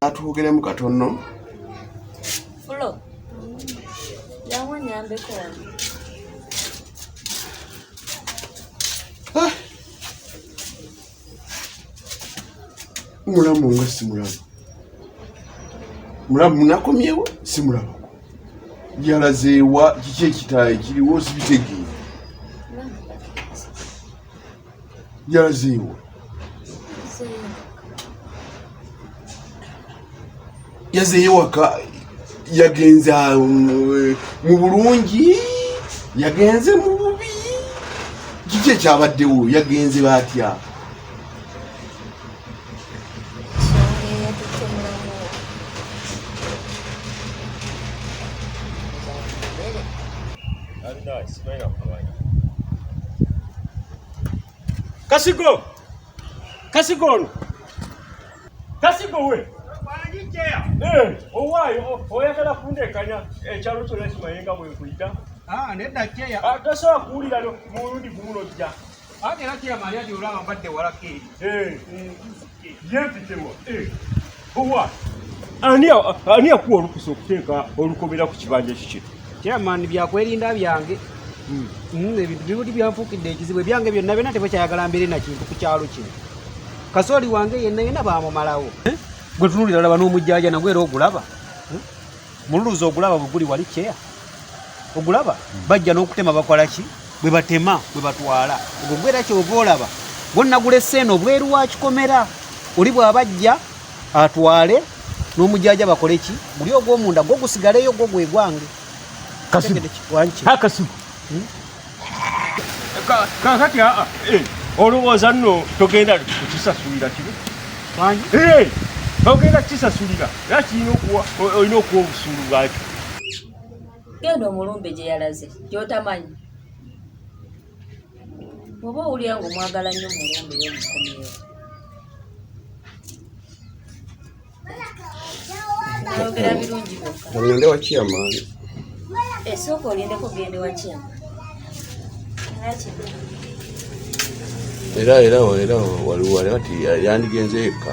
Atwogeremu katono. Fulo. Yawo nyambeko wano. Ah. Mulamu nga si mulamu. Mulamu munakomyewo si mulamu. Yalazeewa kiki ekitaayo kiriwo sibitegeera. yalaziiwa yazeeyo waka yagenze eh, mu bulungi yagenze mu bubi kiki ekyabaddewo yagenze batya Kasigo! Kasigo ono! Kasigo we! Eh, owaayo oyagala kundekanya ekyalo kyona kimayenga bwenkuyita ah, nedda kyeya ah, tosobola kuwulira mulundi gumulojja Ate era kiyama ani adi olaba mbadde walako eri. Eh. Yempitewa. Eh. Owa. Ani ani akuwa olukusa okuteeka olukomera ku kibanja kiki? Chairman byakwerinda byange. Hmm. hmm ebintu bibuli byanfuukidde ekizibu ebyange byonna byonna tebakyayagala mbeere na kintu ku kyalo kino. Kasooli wange yenna yenna baamumalawo. Eh? Gwe tunulira laba n'omujjaaja nagwe era ogulaba. mululuzi ogulaba bweguli wali care ogulaba hmm. bajja n'okutema bakola ki bwe batema bwe batwala ogwo gwera kyova olaba gwonna gulese eno obweru wakikomera oli bwabajja atwale n'omujaja bakole ki guli ogwomunda gwo gusigaleyo gwo gwegwange kasibakasibu kakati aa eh, olowooza nno togenda kukisasulira kibi eh, togenda kukisasulira era kirina okuwa olina okuwa obusuulu bwakyo genda omulumbe gye yalaze gyotamanyi oba owulira nga omwagala nnyo omulumbe yomukomyewo ayogera birungi byokka wakiyama esooka eh, olindeko gende wakiyama era era era waliwo ali ati yandigenze yekka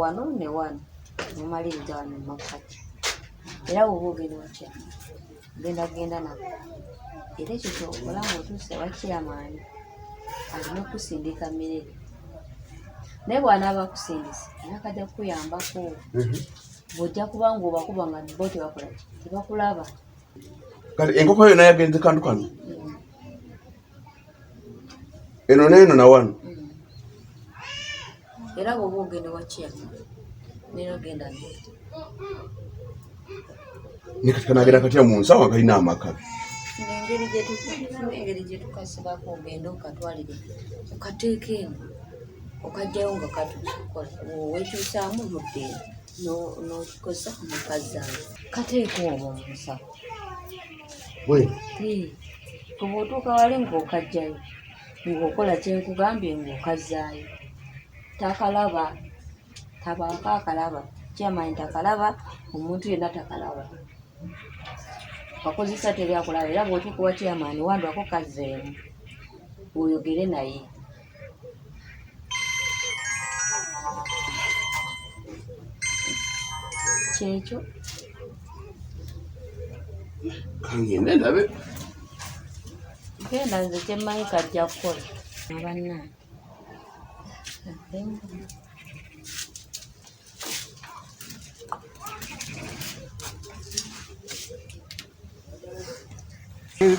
wano ne wano mumaliriza wano mumakkati era woba ogenda otya ogenda kugenda nako era ekyo kyokola nga otuuse wakiramaani alina okusindika mirere naye bwanaaba akusindise nakajja kukuyambako mhm. bwojja kuba nga obakuba nga bo tebakola tebakulaba kati enkoko yona yagenze kantu kano eno neeno nawano era bwoba ogenda wakiya nera genda ne kati kanagenda katya mu nsawo akalina amaka engeri gyetukasibako ogenda okatwalire okateeka eno okajjayo nga katukola wekyusaamu mudde nokikozesa mukazi awe kateeka obwo musawo we kuba otuuka wali ng'okajjayo ng'okola kyenkugambye ng'okazzaayo takalaba tabaako akalaba kyamanyi takalaba omuntu yenna takalaba wakozesa teri akulaba era bwotuuka wa kyamaani wandwako kazzeemu oyogere naye kyekyo kangende ndabe genda nze kyemmanyi kajja kukola abanna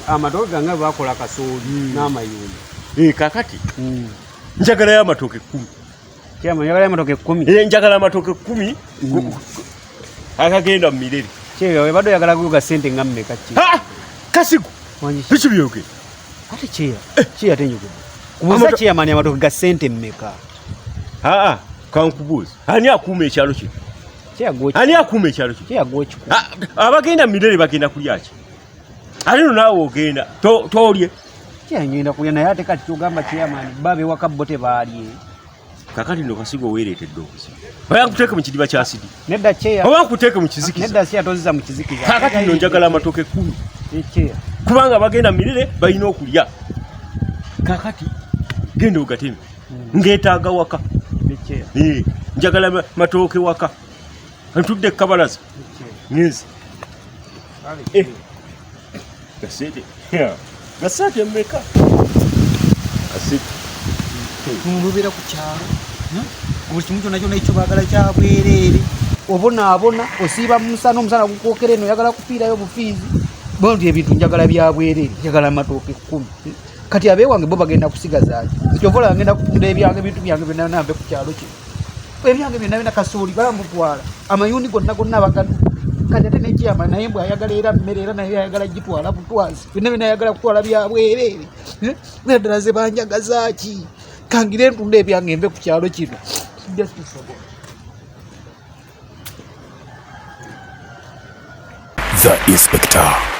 amatoke gange bakola kasooli hmm. n'amayumba eh, kakati hmm. njagalayo amatoke kumi njagalayo amatoke kumi eh, njagala amatoke kumi hmm. akagenda mu mirere kyebadde oyagala kuyoga sente nga mmeka kasigo biki byoge ate kyeya eh. kyeya tenyogede kubuuza kyeyamani amatoke ga sente mmeka aa kankubuuza ani akuuma ekyalo kino ani akuuma ekyalo ah, abagenda mirere bagenda kulyaki ate no naawe ogenda tolye kyengenda kulya naye ate kati kyogamba kyeyamani babe waka bo tebaalye kakati no kasiga oweeretedde obuzibu bayankuteeke mu kidiba kya sidi nedda kyeya oba nkuteeke mu kizikiza nedda kyeya toziza mu kizikiza kakati no njagala amatooke kumi ekyeya kubanga bagenda mirere balina okulya kakati genda ogateme hmm. ngetaaga waka eh, njagala matooke waka ntudde ekabalaza ngenzi eh. gasente gasente meka mulubera ku kyalo hmm? buli kimu kyona kyona ekyo bagala kyabwereere obonaabona osiiba mumusana omusana gukwokera eno oyagala kufiirayo bufiizi bondi ebintu njagala byabwereere njagala matooke kumi kati abewange bo bagenda kusigaza kyovola agenda kutunda ebyange ebintu byange byonna nambe ku kyalo kino ebyange byonna byona kasooli balamutwala amayuuni gonna gonna abagadu kati ate nekyama naye mbwe ayagala era mmere era naye ayagala gitwala butwazi byonna byona ayagala kutwala byabwereere eh? era ddala ze banjagazaki kangire ntunda ebyange mbe ku kyalo kino The Inspector.